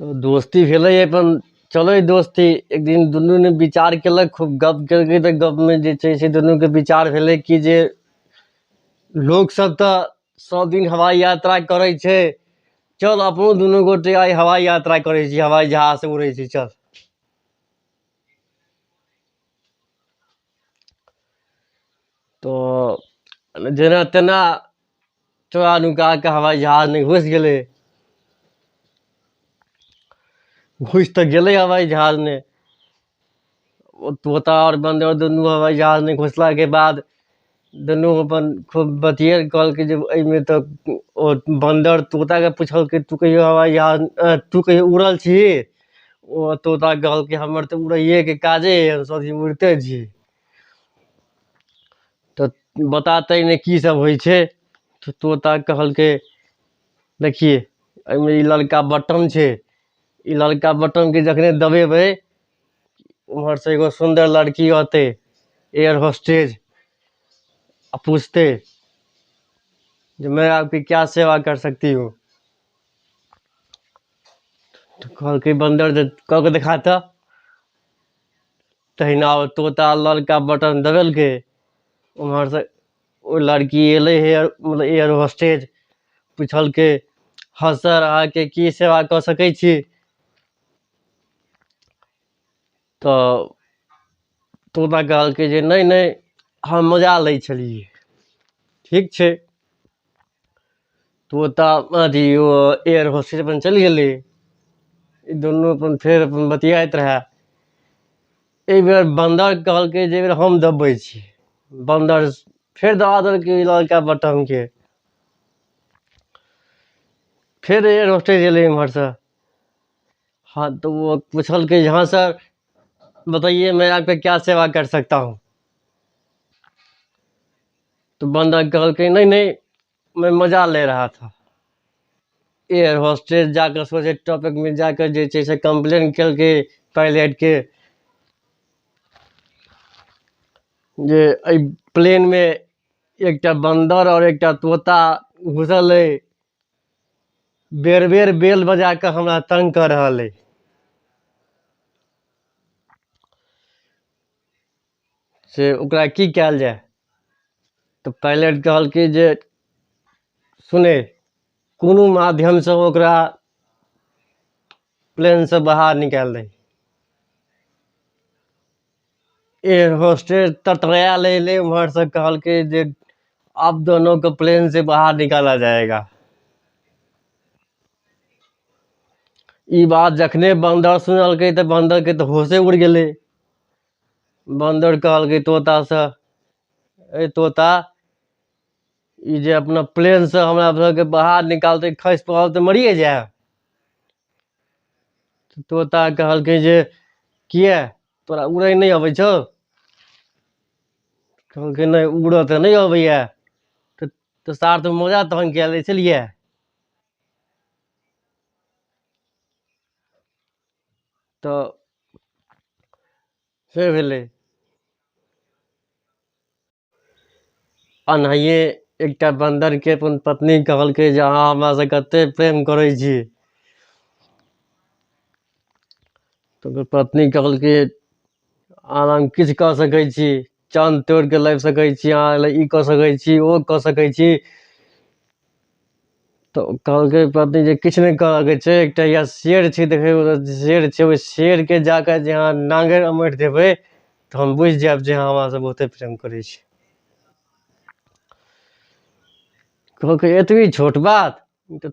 तऽ दोस्ती भेलै अपन चलै दोस्ती एक दिन दुनू ने विचार केलक खूब गप केलकै तऽ गपमे जे छै से दुनूके विचार भेलै कि जे लोक सब तऽ सब दिन हवाइ यात्रा करै छै चल अपनो दुनू गोटे आइ हवाइ यात्रा करै छी हवाइ जहाज से उड़ै छी चल तऽ जेना तेना तोरा नुका के हवाई जहाज में घुस गेले घुस तो गेले हवाई जहाज में ओ तोता और बंदर दुनू हवाई जहाज में घुसला के बाद दुनू अपन खूब बतियाल कहल कि जे एहिमे तऽ ओ बंदर तोता के पूछल कि तू कहियो हवाई जहाज अ, तू कहियो उड़ल छी ओ तोता कहल कि हमर तऽ उड़ैए के काजे है हम सब दिन उड़ते छी तऽ बता तऽ एहिमे कीसभ होइ छै तऽ तोता कहलकै देखियै एहिमे ई ललका बटम छै ई ललका बटमकेँ जखने दबयबै ओम्हरसँ एगो सुन्दर लड़की अयतै एयर होस्टेज आ पूछतै जे मैं आपकी क्या सेवा कर सकती हूँ तऽ कहलकै बन्दर जे कऽ कऽ देखा तऽ तहिना ओ तोता ललका बटन दबेलकै ओम्हरसँ ओ लड़की अयलै हे मतलब एयर होस्टेज पुछलकै हँ सर अहाँके की सेवा कऽ सकै छी तऽ तोता कहलकै जे नहि नहि हम मजा लै छलियै ठीक छै तऽ ओतऽ अथी ओ एयर होस्टेज अपन चलि गेलै ई दुनू अपन फेर अपन बतियाइत रहए एहि बेर बन्दर कहलकै जे एहि बेर हम दबै छी बन्दर फेर दबा देलकै ई लड़का बटमके फेर एयर होस्टेज एलै इम्हरसँ हाँ तो वो पूछलकै जे हाँ सर बताइए मैं आपका क्या सेवा कर सकता हूँ तो बंदा कहलकै नहीं नहीं मैं मजा ले रहा था एयर होस्टेज जाकर सोचे टॉपिक में जाकर जे छै से कंप्लेन केलकै पायलट के जे एहि प्लेन में एकटा बंदर और एकटा तोता घुसल है बेर बेर बेल बजा कऽ हमरा तंग कर रहल है से ओकरा की कयल जाय तऽ पाइलट कहलकै जे सुने कोनो माध्यमसँ ओकरा प्लेनसँ बाहर निकालि दही एयर होस्टेज तटराया ले ले उम्हर से कहल के जे आप दोनों को प्लेन से बाहर निकाला जाएगा ई बात जखने बंदर सुनलकै तऽ बंदर के तऽ होशे उड़ि गेलै बन्दर कहलकै तोतासँ अरे तोता ई जे अपना प्लेनसँ हमरा सबके बाहर निकालतै खसि पड़ल तऽ मरिए जायब तऽ तोता कहलकै जे किए तोरा उड़ै नहि अबै छौ कहलकै नहि उड़ऽ तऽ नहि अबैए तऽ तऽ सार तऽ मोजा तहन कए लै छलिए तऽ से भेलै एनाहिए एकटा बन्दरके अपन पत्नी कहलकै जे अहाँ हमरासँ कतेक प्रेम करै छी तऽ ओकर पत्नी कहलकै आर हम किछु कऽ सकै छी चाँद तोड़ि कऽ लाबि सकै छी अहाँ लए ई कऽ सकै छी ओ कऽ सकै छी तऽ कहलकै पत्नी जे किछु नहि करयके छै एकटा या शेर छै देखयमे तऽ शेर छै ओहि शेरके जा कऽ जे अहाँ नाङ्गरि अमरि देबै तऽ हम बुझि जायब जे अहाँ हमरासँ बहुते प्रेम करै छी कहलकै एतबी छोट बात ई तऽ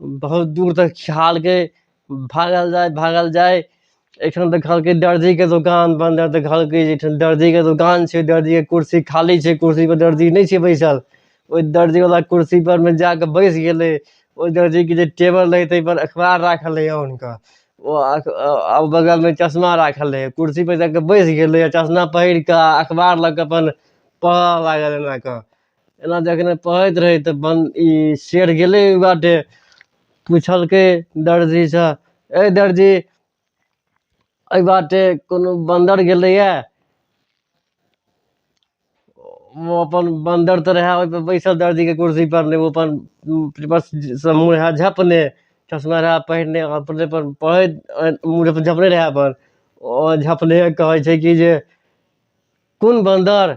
बहुत दूर तक खिहालके भागल जाइ भागल जाइ एहिठाम देखलकै दर्जीके दोकान बन्द रहै तऽ कहलकै जे एहिठाम दर्जीके दोकान छै दर्जीके कुर्सी खाली छै कुर्सीपर दर्जी नहि छै बैसल ओहि दर्जीवला कुर्सीपर मे जा कऽ बैस गेलै ओहि दर्जीके जे टेबल रहै ताहिपर अखबार राखल रहै आनि कऽ ओ अख आ बगलमे चश्मा राखल रहै कुर्सीपर जा कऽ बैस गेलै आ चश्मा पहिर कऽ आ अखबार लऽ कऽ अपन पढ़य लागल एना कऽ एना जखने पढ़ैत रहै तऽ बन ई शेर गेलै ओहि बाटे पुछलकै दर्जीसँ ए दर्जी एहि बाटे कोनो बन्दर गेलैए ओ अपन बन्दर तऽ रहए ओहिपर बैसल दर्जीके कुर्सीपर ने ओ अपन पेपरसँ मुँह रहए झपने चश्मा रहए पहिरने अपने पर पढ़ैत अ, मुँह अपन झपने रहए अपन ओ झपने कहै छै कि जे कोन बन्दर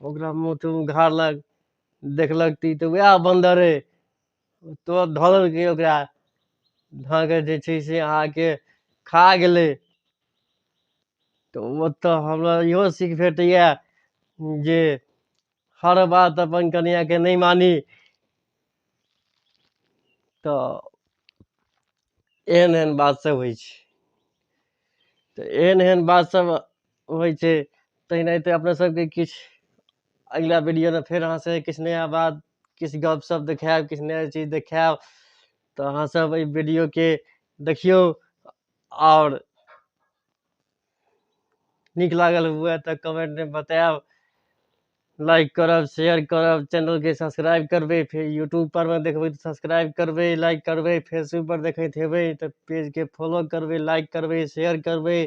ओकरा मुँह तूँ उघाड़लक देखलक ती तऽ उएह बन्दर अइ तुरत धलकै ओकरा धऽ कऽ जे छै से अहाँके खा गेलै तऽ ओतऽ हमरा इहो सीख भेटैए जे हर बात अपन कनियाँके नहि मानी तऽ एहन एहन बातसभ होइ छै तऽ एहन एहन बातसभ होइ छै तेनाहिते अपना सबके किछु अगिला वीडियोमे फेर अहाँ सबके किछु नया बात किछु गप सप देखायब किछु नया चीज देखायब तऽ अहाँ सब अइ वीडियोके देखियौ आओर नीक लागल हुए तऽ कमेन्टमे बतायब लाइक करब शेयर करब चैनलके सब्सक्राइब करबै फेर यूट्यूबपर मे देखबै तऽ सब्सक्राइब करबै लाइक करबै फेसबुकपर देखैत हेबै तऽ पेजके फॉलो करबै लाइक करबै शेयर करबै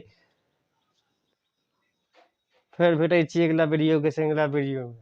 फेर भेटै छी अगिला वीडियोके संग अगिला वीडियोमे